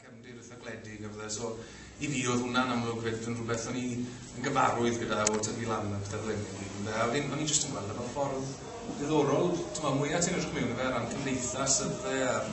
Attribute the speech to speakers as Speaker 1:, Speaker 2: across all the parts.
Speaker 1: cefndir eitha gwledig a fydde. So i fi oedd hwnna'n amlwg fyd yn rhywbeth o'n i'n gyfarwydd gyda o tyfu lan a pethau fel hynny. Ynde? A fi'n, o'n i'n just yn gweld efo ffordd ddiddorol, ti'n meddwl, mwyaf ti'n edrych mewn i fe ran cymdeithas ydde a'r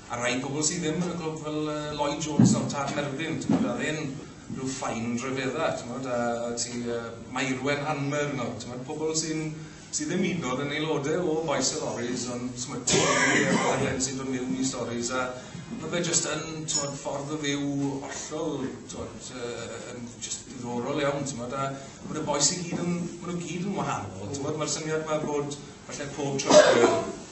Speaker 1: A rai yn gwbl sydd ddim yn y clwb fel uh, Lloyd Jones o'r Tad Merfyn, ti'n gwybod, a ddim rhyw ffain rhyfedda, ti'n gwybod, a ti uh, Mairwen Hanmer, no, ti'n gwybod, pobl sy'n sydd ddim hyd nod yn aelodau o Boys and Lorries, ond smytio ni a rhaid sy'n dod mewn i stories, a mae fe jyst yn twod, ffordd o fyw hollol, twod, uh, yn jyst diddorol iawn, ti'n gwybod, a mae'r boes i gyd yn, maen nhw gyd yn wahanol, ti'n gwybod, mae'r syniad mae bod, falle pob trwy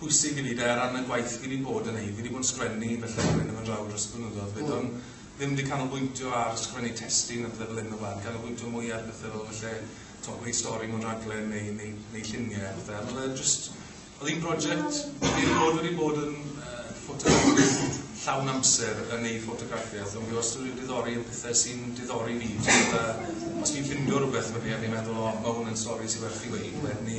Speaker 1: pwysig i fi de, ar ran y gwaith fi wedi bod yn neud, fi wedi bod yn sgwennu fy llyfr hyn yma draw dros y blynyddoedd, byddwn mm. ddim wedi canolbwyntio ar sgwennu testyn neu bethau fel hyn o blaen, canolbwyntio mwy ar bethau fel felly to, gwneud stori mewn rhaglen neu, neu, neu lluniau a bethau. Ond oedd just, oedd hi'n prosiect, fi wedi bod wedi bod yn uh, ffotograffiad llawn amser yn ei ffotograffiaeth, ond fi wastad wedi diddori yn pethau sy'n diddori fi. Os fi'n ffindio rhywbeth fyny a fi'n meddwl, o, mae hwn yn stori sy'n werth i wneud, wedyn ni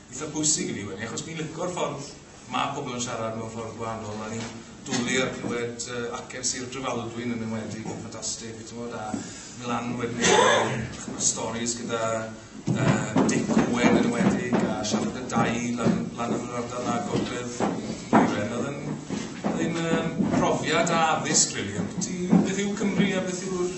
Speaker 1: eitha pwysig i fi wedi, achos fi'n licor ffordd mae pobl yn siarad mewn ffordd gwahanol, a ni'n dwlu ar clywed uh, acen Sir Drefaldwyn yn enwedig, yn ffantastig, ti'n bod, a mlan wedyn y storys gyda uh, Dick Owen yn enwedig, a siarad y dau lan, lan yn yr ardal na gogledd Iren, oedd yn, oedd yn um, profiad a addysg, really, beth yw Cymru a beth yw'r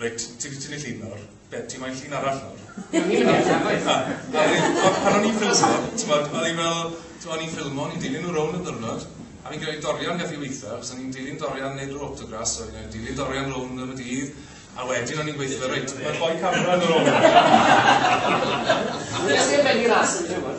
Speaker 1: Reit, ti wedi tynnu llun nawr, be, ti moyn llun arall nawr? Ie, o'n i'n
Speaker 2: mynd i ddechrau efo hynna. A wedyn, tibod, pan o'n i'n ffilmio,
Speaker 1: tibod, o'n i fel, tibod, o'n i'n ffilmio, o'n i'n dilyn nhw rownd y ddiwrnod, a fi'n credu dorian gath i weithio, achos o'n i'n dilyn dorian neud yr autograss, so o'n i'n dilyn dorian rownd yn y dydd, a wedyn o'n i'n gweithio, reit, mae'n rhoi camera yn yr ôl. Nes
Speaker 2: i'r benni ras yn tymor.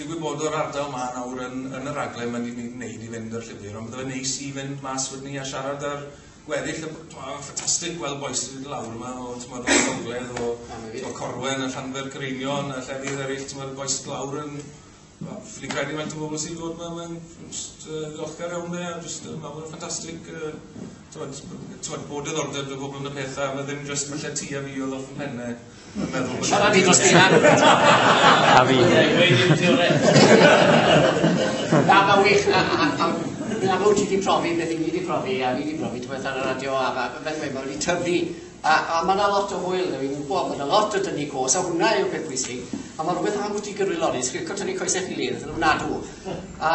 Speaker 1: Digwydd bod o'r ardal ma nawr yn, yn y raglen mae ni'n gwneud i fynd o'r llwybr, ond bydde fe'n neis i fynd mas wedyn ni a siarad ar gweddill y... Ffantastig gweld bois sy'n mynd lawr yma o, ti'n modd, o Gogledd, o, o Corwen, a Llanfer Cereinion, a llefydd eraill, ti'n modd, bois sy'n lawr yn... Fi'n credu mae'n o bobl sy'n dod yma, mae'n just uh, ddiolchgar iawn dde, a just, uh, mae'n ffantastig, uh, ti'n modd, bod y ddordeb y pobl yn y pethau, mae ddim just falle ti a fi oedd off yn pennau, Siarad i dros dy
Speaker 2: anwyd. A
Speaker 3: fi. Na,
Speaker 2: mae'n wych. A, a, a, yn amlwg ti wedi profi beth i ni wedi profi, a fi wedi profi ti'n ar y radio, a mae fe wedi mae wedi tyfu. A, a mae yna lot o hwyl, fi'n gwybod, mae yna lot o dynnu cos, a hwnna yw'r peth bwysig. A mae rhywbeth am bwyty gyrwyl lorri, sgrico tynnu coesau chi led, yn ofnadw. A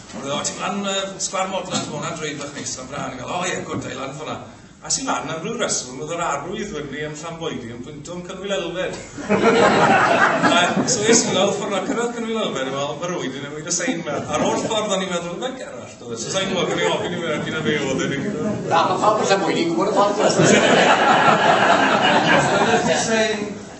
Speaker 1: Ond oedd o, ti'n lan y sgwar modlan, ti'n hwnna'n drwy fach neis am brân, o oh, ie, gwrdd, da i lan ffona. A sy'n lan am rhyw reswm, oedd yr arwydd wyrni yn llan boedi yn pwynto yn cynwyl elfed. a, so es i lawr ffordd a cyrraedd cynwyl elfed, yn meddwl, mae'r wydi newid y sein yma. A'r oll ffordd o'n i'n meddwl, mae'n gerall, dod, so sa'n gwybod, gan i ofyn i fe, ac yna fe oedd yn ei Na, mae pawb yn llan
Speaker 2: boedi, gwybod y ffordd.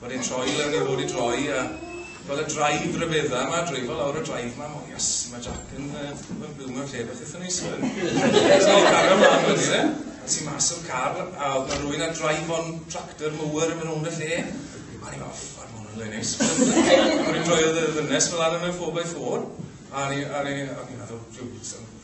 Speaker 1: Wedi troi fel ni fod i droi a fel y drive ryfedda yma, dreifo lawr y drive yma, o yes, mae Jack yn uh, byw mewn lle beth eitha neis fan. So i cario mlaen wedi dde, nes i mas o'r car a oedd yna rwy'n a drive on tractor mower yn mynd o'n y lle. A ni fel, ffad, mae hwnna'n le neis. Rwy'n rhoi oedd y ddynes fel arno mewn 4x4 a ni, a ni, a ni meddwl, rhyw,